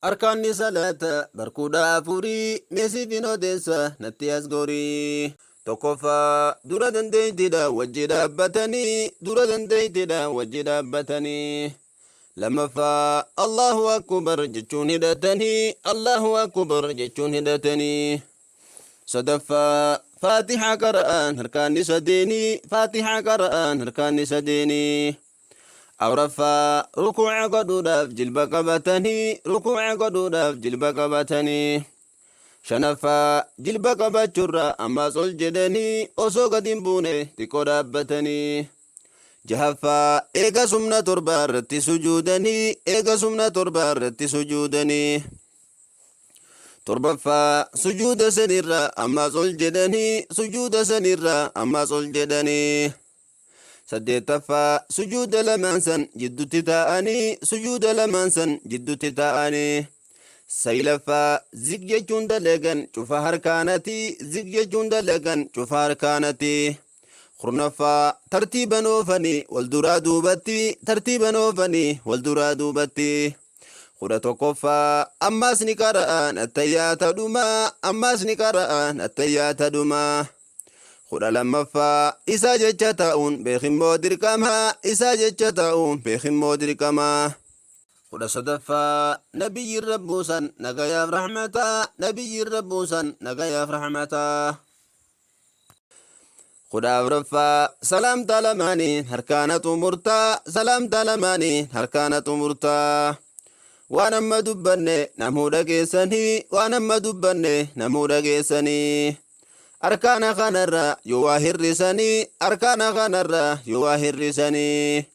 Arkaanni salaata bar kudha afuri mee siifin odeessa natti as gori. Tokkoffaa, dura dandeeytidha wajji dhaabbatani, dura dandeeytidha wajji dhaabbatani. Lammaffaa, Allaahu Akkubar jechuun hidhatani, Allaahu Akkubar jechuun hidhatani. Sadaffaa, Faatihaa qara'aan harkaanni sadeeni, Faatihaa qara'aan harkaanni sadeeni. Afraffaa, Rukuuca godhuudhaaf jilba qabatanii Rukuuca godhuudhaaf jilba qabatanii. Shanaffaa, Jilba qabachurra ammaas ol jedhanii osoo gad hin buune xiqqoo dhaabbatanii. Jahaffaa, Eegas humna torbaa irratti sujuudanii Eegas humna torbaa irratti sujuudanii. Torbaffaa, Sujuuda sanirra ammaas ol jedhanii Sujuuda sanirra ammaas ol jedhanii. Saddeettaffaa, Sujuuda lamaan san jiddutti taa'anii sujuuda lamaan san jiddutti taa'anii. Saylaffaa, Zik jechuun dalagan cufa harkaanati zik jechuun dalagan cufa harkaanati. Kurnaffaa, Tartiiban oofanii wal duraa duubatti tartiiban oofanii wal duraa duubatti. kudha tokkoffaa ammaas ni qara'an attayyaata dhumaa ammaas ni qara'an attayyaata dhumaa kudha lammaffaa isaa jecha ta'uun beekimmoo dirqama isaa jecha ta'uun beekimmoo dirqama kudha sadaffaa nabiyyiin rabbuusan nagayaaf rahmataa nabiyyiin rabbuusan nagayaaf rahmataa kudha afraffaa salaamtaa lamaaniin harkaana xumurtaa salaamtaa lamaaniin harkaana xumurtaa waan amma dubbanne namuu dhageessanii waan amma dubbanne namuu dhageessanii arkaana kanarra yoo waa hir'isanii arkaana kanarra yoo waa hir'isanii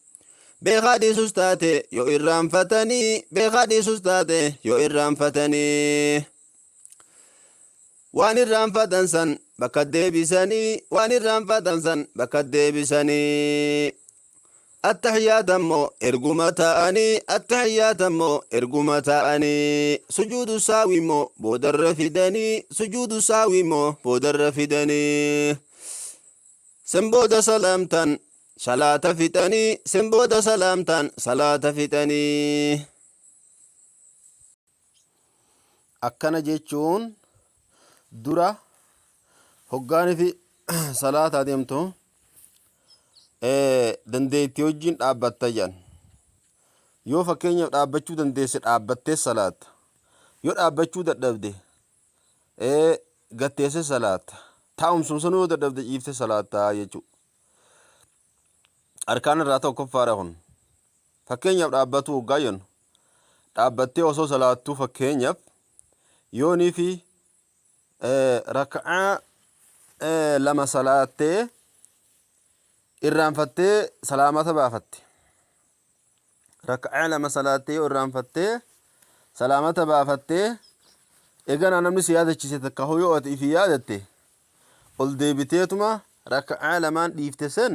beekaa dhiisus taate yoo irraanfatanii beekaa dhiisus taate yoo irraanfatanii. Waan irraanfatan san bakka deebisanii waan irraanfatan san bakka deebisanii attahiyaata immoo erguma ta'anii attahiyaata immoo erguma ta'anii sujuudu saawii immoo boodarra fidanii sujuudu saawii immoo boodarra fidanii san booda salaamtan salaata fixanii san booda salaamtan salaata fixanii Akkana jechuun dura hoggaanifi salaataa deemtu dandeetti wajjin dhaabbatta jedhan. Yoo fakkeenyaaf dhaabbachuu dandeesse dhaabbattee salaatta. Yoo dhaabbachuu dadhabde gatteesse salaatta. Taa'umsuma sanuu yoo dadhabde ciifte salaatta jechuudha. Arkaan irraa tokkoffaadha kun. Fakkeenyaaf dhaabbatuu hoggaa jennu dhaabbattee osoo salaattuu fakkeenyaaf yoonii fi raka'aa lama salaattee irraanfattee salaamata baafatte. Raka'aa lama salaattee yoo irraanfattee salaamata baafattee eganaa namni si yaadachiise takka hoo yoo ati ifi yaadatte ol deebiteetuma raka'aa lamaan dhiifte sen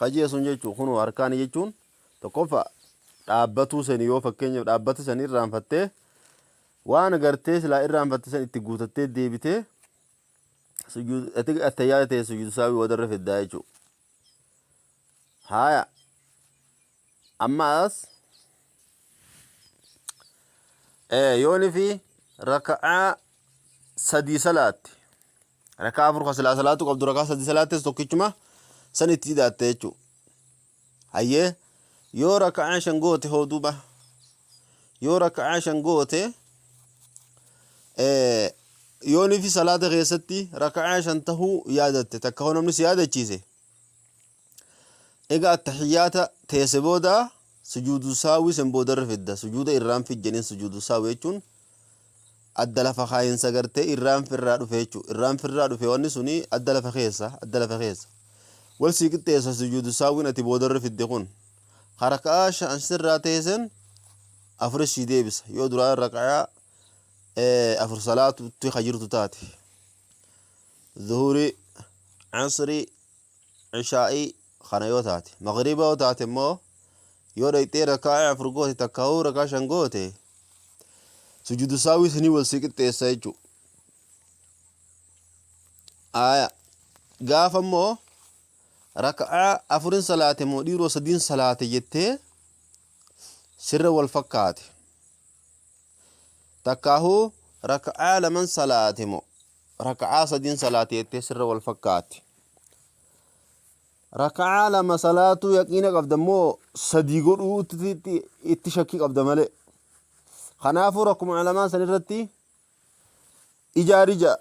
Hajii sun jechuun kunoo harkaani jechuun tokkoffaa dhaabbatuu sani yoo fakkeenyaaf dhaabbata san irraanfattee waan gartee silaa irraanfatte san itti guutattee deebitee sujuud ati attayyaa ta'e sujuud saawii wadarra fiddaa jechuudha. Haaya ammaas ee yooni fi raka'aa sadii salaatti Raka'aa afur ka silaa salaatu qabdu raka'aa sadi salaattes tokkichuma san itti ida'atte jechuu. Hayyee yoo raka'aa shan goote hoo duuba yoo raka'aa shan goote yoonifi salaata keessatti raka'aa shan tahuu yaadatte takka hoo namni si yaadachiise Eega attahiyyaata teesse booda sujuudu sahwii san booda irra fidda. Sujuuda irraanfii jedhaniin sujuudu sahwii jechuun adda lafa kaayinsa gartee irraanfi irraa dhufe jechuudha. Irraanfi irraa dhufe wanni suni adda lafa keessa adda lafa keessa. Wal sii qixxeessa sujuudu sahwiin ati booda irra fidde kun. Ka raka'aa shan sirraa teessen afuris sii deebisa. Yoo duraa raka'aa afur salaatutti ka jirtu taate. Zuhurii, asrii, ishaa'ii kana yoo taate magriiba yoo taate immoo yoo dhayxee raka'aa afur goote takkaahuu rakaa shan goote sujudu saawii sanii wal si qixxeessa jechuu aya gaafa immoo raka'aa afurin salaate moo dhiiroo sadiin salaate jettee sirra wal fakkaate takkaahuu raka'aa laman salaate moo raka'aa sadin salaate jettee sirra wal fakkaatti. Raka'aa lama salaatuu yaqiina qabda immoo sadii godhuu itti shakkii qabda malee. Kanaafuu rakkuma ulamaa san irratti ijaari ja'a.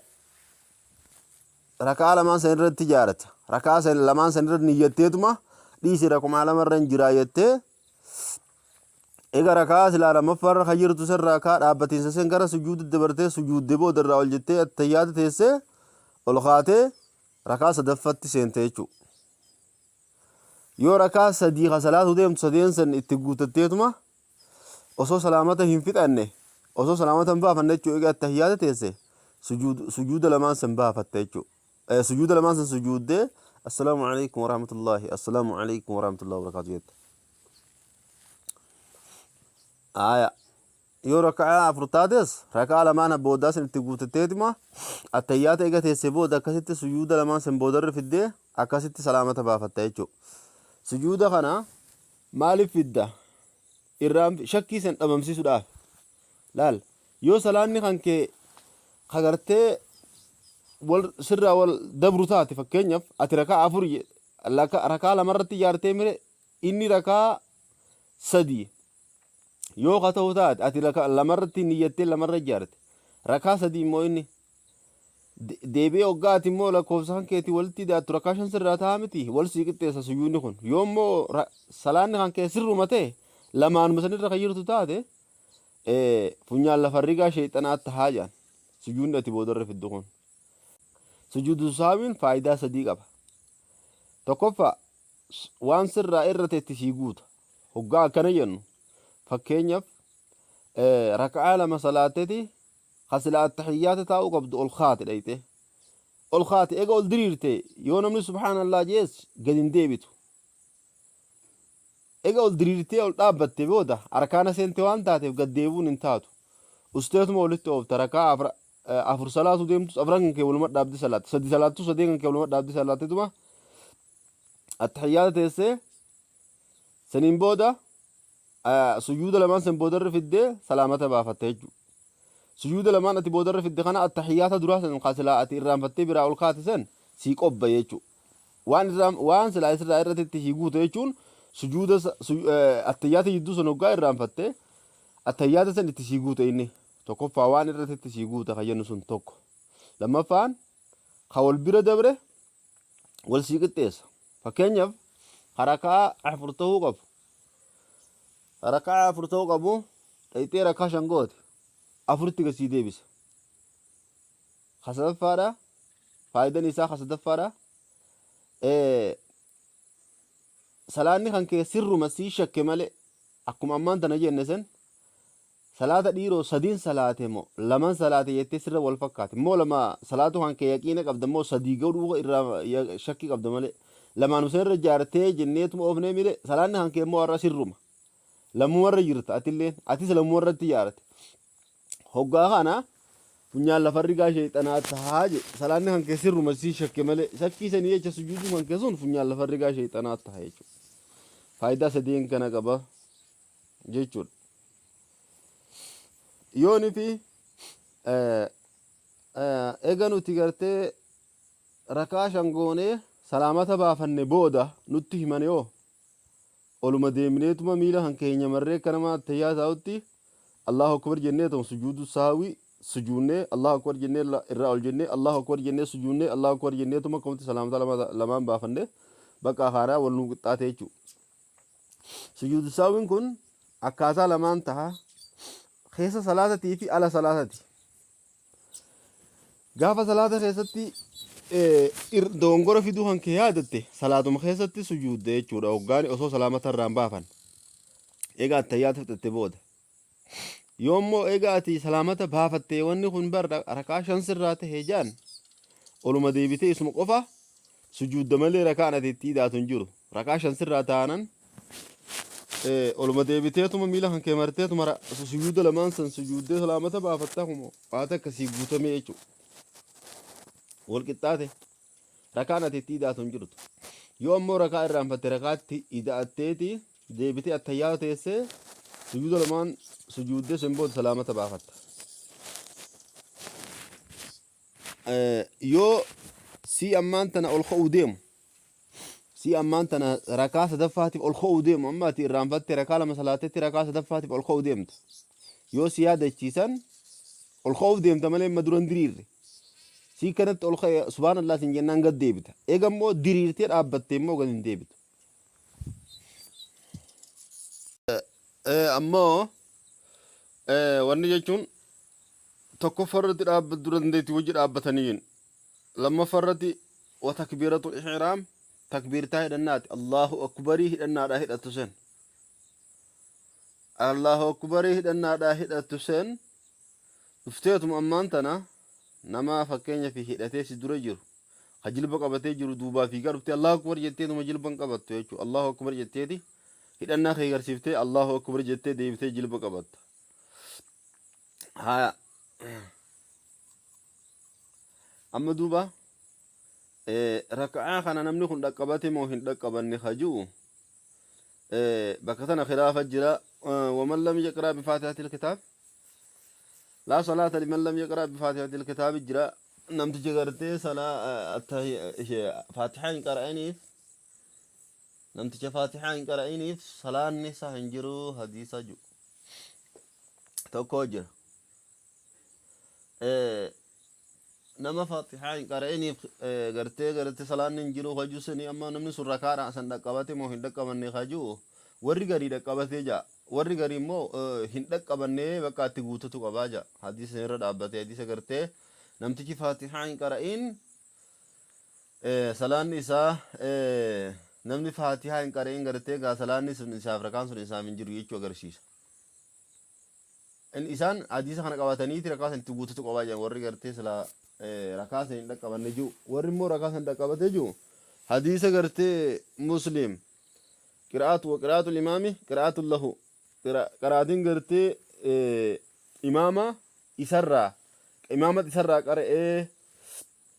Raka'aa lamaan san irratti ijaarata. Raka'aa lamaan san irratti niyyatteetuma dhiisi rakkuma lama irra hin jiraa jettee Eega raka'aa silaa lammaffaarra kan jirtu san raakaa dhaabbatiinsa san gara sujuuditti dabartee sujuudde booda irraa ol jettee attayyaata teessee ol kaatee rakaa sadaffatti seente jechuu. Yoo rakaa sadii ka salaatu deemtu sadeen san itti guutatteetuma osoo salaamata hin fixanne osoo salaamata hin baafanne jechuu eega attayyaata teesse sujuuda lamaan san baafatte jechuu. Eh, Sujuuda lamaan san sujuuddee assalaamu alaikum warahmatullaahi assalaamu alaikum warahmatullaahi wabarakaatu jette. Aaya yoo raka'aa afur taates raka'aa lamaan boodaa san itti guutatteetuma attayyaata eega teessee booda akkasitti sujuuda lamaan san boodarra fiddee akkasitti salaamata baafatta jechuudha. Sujuuda kana maaliif fidda? irraa fi shakkii san dhabamsiisudhaafi. Laal, yoo salaanni kan kee ka gartee wal sirraa wal dabru taate fakkeenyaaf ati raka'aa afur je- laka- raka'aa lama irratti ijaartee mire inni raka'aa sadii yoo ka ta'u taate ati raka- lama irratti niyyattee lama irra ijaarte raka'aa sadii immoo inni Deebi'ee hoggaa ati immoo lakkoofsa kan keetii walitti idaattu rakkaa shan sirraa ta'a miti wal sii qixxeessa sujuudni kun yoo immoo ra- salaanni kan kee sirruma ta'e lamaanuma sanirra kan jirtu taate eh, funyaan lafa rigaa sheexanaa tahaa jedhan sujuudni ati boodarra fiddu kun sujuudu saawiin faayidaa sadii qaba tokkoffaa s- waan sirraa irra ta'etti sii guuta hoggaa akkana jennu fakkeenyaaf eh, raka'aa lama salaatteeti ka silaa attahiyyaata taa'uu qabdu ol kaate dhayxe ol kaate ega ol diriirte yoo namni subhaanallah jees gad hin deebitu ega ol diriirtee ol dhaabbatte booda arkaana seente waan taateef gad deebuun hin taatu usteetuma walitti oofta rakaa afra eh, afur salaatu deemtus afran kan kee waluma dhaabdi salaatte sadi salaattu sadeen kan kee waluma dhaabdi salaattituma attahiyyaata teessee Saniin booda sujuuda lamaan san boodarra fiddee salaamata baafatta jechuudha. Sujuuda lamaan ati boodarra fidde kana attahiyyaata duraa san kan silaa ati irraanfattee biraa ol kaate san sii qobba jechuudha. Waan irraan waan silaa isirraa irratti sii guute jechuun sujuuda attahiyyaata jidduu san hoggaa irraanfatte attahiyyaata san itti sii guute inni tokkoffaa waan irratti sii guute kan jennu sun tokko. Lammaffaan kan wal bira dabre wal sii qixxeessa. Fakkeenyaaf harakaa afur ta'uu qabu. Harakaa afur ta'uu qabu dhayxee harakaa shan goote afuritti gad sii deebisa. Ka sadaffaadha faayidan isaa ka sadaffaadha. Eh, Salaanni kan kee sirruma sii shakke malee akkuma ammaan tana jenne san Salaata dhiiroo sadin salaate moo laman salaate jettee sirra wal fakkaate moo lama salaatuu kan kee yaqiina qabda moo sadii godhuu irraa shakkii qabda malee lamaanuma san irra jaartee jenneetuma oofnee mire salaanni kan kee moo har'a sirruma lammuma irra jirta atilleen atis lammuma irratti jaarte hoggaa kana funyaan lafa rigaa sheexanaa tahaa je salaanni kan kee sirruma sii shakke malee shakkii sanii jecha sujuuduu kan kee sun funyaan lafa rigaa sheexanaa taha jechuudha faayidaa sadeen kana qaba jechuudha. Yoo nuti eega nuti gartee rakaa shan goonee salaamata baafanne booda nutti himane hoo oluma deemneetuma miila kan keenya marree akka nama tayyaa taa'utti Allahu akbar jennee ta'u sujuudu saawii sujuunnee Allahu akbar jennee irraa ol jennee Allahu akbar jennee sujuunnee Allahu akbar jenneetuma akkamitti salaamata lamaan baafanne bakka haaraa wal nuu qixxaatee jechuudha. Sujuudu sahwiin kun akkaataa lamaan taha. Keessa salaatatii fi ala salaatati. Gaafa salaata keessatti doongora fiduu kan kee yaadatte salaatuma keessatti sujuudda jechuudha. Hoggaani osoo salaamata irraan baafan. Egaa attayyaata fixatte booda. Yoo immoo eega ati salaamata baafattee wanni kun bar raka'aa shan sirraa tahe jaan oluma deebitee isuma qofa sujuudda malee raka'aan ati itti idaatu hin jiru. Raka'aa shan sirraa taanan eh, oluma deebiteetuma miila kan kee marteetuma ra- sujuuda lamaan san sujuuddee salaamata baafatta kumoo waa takka sii guutamee jechuudha. Wal qixxaate. Rakaan ati itti ida'atu hin jirtu. Yoo ammoo rakaa irraanfatte rakaatti ida'atteeti deebitee attayyaa teessee sujuuda lamaan sujuuddee sen booda salaamata baafatta. Eh, Yoo si ammaan tana ol ka'uu deemu si ammaan tana rakaa sadaffaatiif ol ka'uu deemu amma ati irraanfatte rakaa lama salaatetti rakaa sadaffaatiif ol ka'uu deemta. Yoo si yaadachiisan Ol ka'uuf deemta malee amma dura hin diriirre. Sii kanatti ol ka'e subhaanallah siin jennaan gad deebita. Eega immoo diriirtee dhaabbattee immoo gad hin deebitu. Eh, Ammoo eh, wanni jechuun tokkoffaa irratti dhaabbat dura dandeetti wajji dhaabbataniin lammaffaa irratti wa takbiiratul ihraam takbiirtaa hidhannaati Allahu akbarii hidhannaadhaa hidhattu sen Allahu Akkubarii hidhannaadhaa hidhattu seen dhufteetuma ammaan tana nama fakkeenya fi hidhatee si dura jiru ka jilba qabatee jiru duubaa fiigaa dhuftee Allahu Akkubar jetteetuma jilban qabattu jechuudha Allahu Akkubar jetteeti hidhannaa kee garsiiftee Allahu Akkubar jettee deebitee jilba qabatta haya amma duuba raka'aa kana namni kun dhaqqabate moo hin dhaqqabanne ka ji'u bakka tana khilaafa jira waman lam yaqraa bifaatihatil kitaab laa salaata liman lam yaqraa bifaatihatil kitaabi jira namtichi gartee salaa faatihaa hin qara'iniif namticha faatihaa hin qara'iniif salaanni isaa hin jiru hadiisa jiru tokko jira nama fatihaa hin qara'iniif gartee gartee salaanni hin jiru kajuu sanii amma namni sun rakaadha san dhaqqabate moo hin dhaqqabanne kajuu warri garii dhaqqabatee ja'a warri garii immoo hin dhaqqabanne bakka itti guututu qabaa ja'a hadiisa irra dhaabbatee hadiisa gartee namtichi fatihaa hin qara'in salaanni isaa namni fatihaa hin qara'in gartee gaa salaanni sun isaaf rakaan sun isaaf hin jiru jechuu agarsiisa in isaan hadiisa kana qabataniiti rakaa san itti guutatu qabaa jedhan warri gartee silaa eh, rakaa san hin dhaqqabanne jiru warri immoo rakaa san dhaqqabatee jiru hadiisa gartee muslim qiraatu wa qiraatu imaami qiraatu lahu Qira- qaraatiin gartee eh, imaama isarraa imaamatti isarraa qara'ee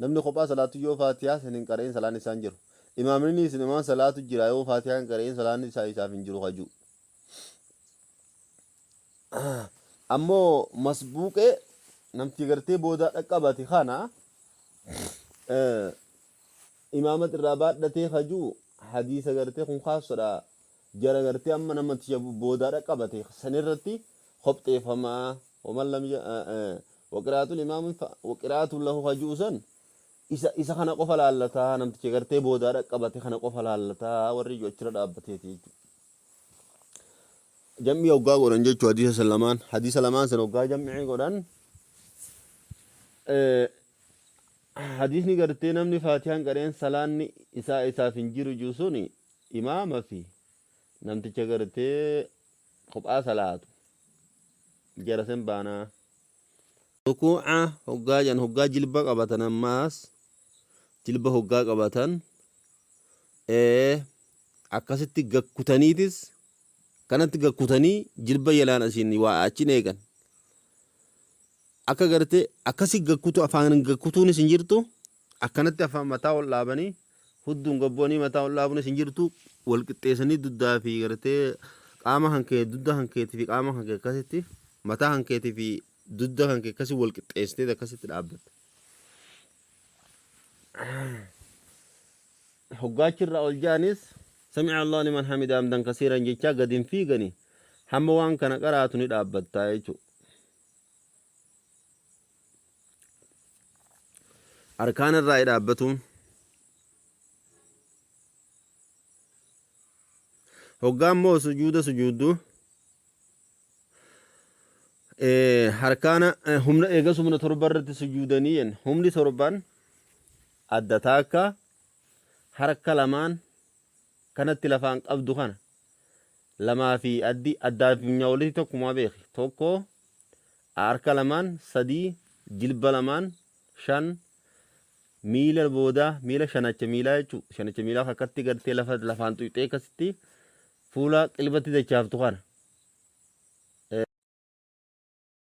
Namni kophaa salaatu yoo faatihaa san hin qara'in salaanni isaa hin jiru. Imaamnini isin imaan salaatu jira yoo faatihaa hin qara'in salaanni isaa isaaf hin jiru ka ju'u. Ammoo masbuuqee namtii gartee boodaa dhaqqabati kana imaamat irraa baadhatee ka ju'u hadiisa gartee kun kaasodha Jara gartee amma nama tiya boodaa dhaqqabate san irratti kophxeeffama. Waman lam ya- eh, eh, waqiraatul imaamin fa- waqiraatun lahu ka ji'u san isa, isa kana qofa laallata namticha gartee boodaa dhaqqabate kana qofa laallata warri ji'u achirra dhaabbateeti jechuudha. Jam'ii hoggaa godhan jechuu hadiisa san lamaan hadiisa lamaan san hoggaa jam'ii godhan eh, hadiisni gartee namni faatiyaan qareen salaanni isaa isaaf hin jiru jiru suni Imaama fi namticha gartee kophaa salaatu jara sen baanaa. Rukuuca hoggaa jedhan hoggaa jilba qabatan ammaas jilba hoggaa qabatan akkasitti gad kutaniitis kanatti gad kutanii jilba jalaan asiin waa achiin eegan akka gartee akkasi gad kutu afaan gad kutuunis hin jirtu Akkanatti afaan mataa ol dhaabanii hudduun gad bu'anii mataa ol dhaabuunis hin jirtu wal qixxeessanii duddaa fi gartee qaama kan kee dudda kan keetii fi qaama kan kee akkasitti mataa kan keetii fi dudda kan kee akkasii wal qixxeessitee akkasitti dhaabbatta. Hoggaachi irraa ol ja'anis sami'a Allah liman hamida hamdan kasiiran jechaa gad hin fiigani hamma waan kana qaraatu ni dhaabbatta jechuudha. Arkaana irraa dhaabbatuun hoggaa immoo sujuuda sujuuddu harkaana humna eegas humna torba irratti sujuudanii jenna humni torban adda taakka harka lamaan kanatti lafaan qabdu kana lamaa fi addi addaa fi funyaa walitti tokkumaa beeki tokko Harka lamaan 3 jilba lamaan 5 miila boodaa miila shanacha miilaa jechuu shanacha miilaa kakkatti gartee lafa lafaan tuyxee akkasitti fuula qilbatti dachaaftu kana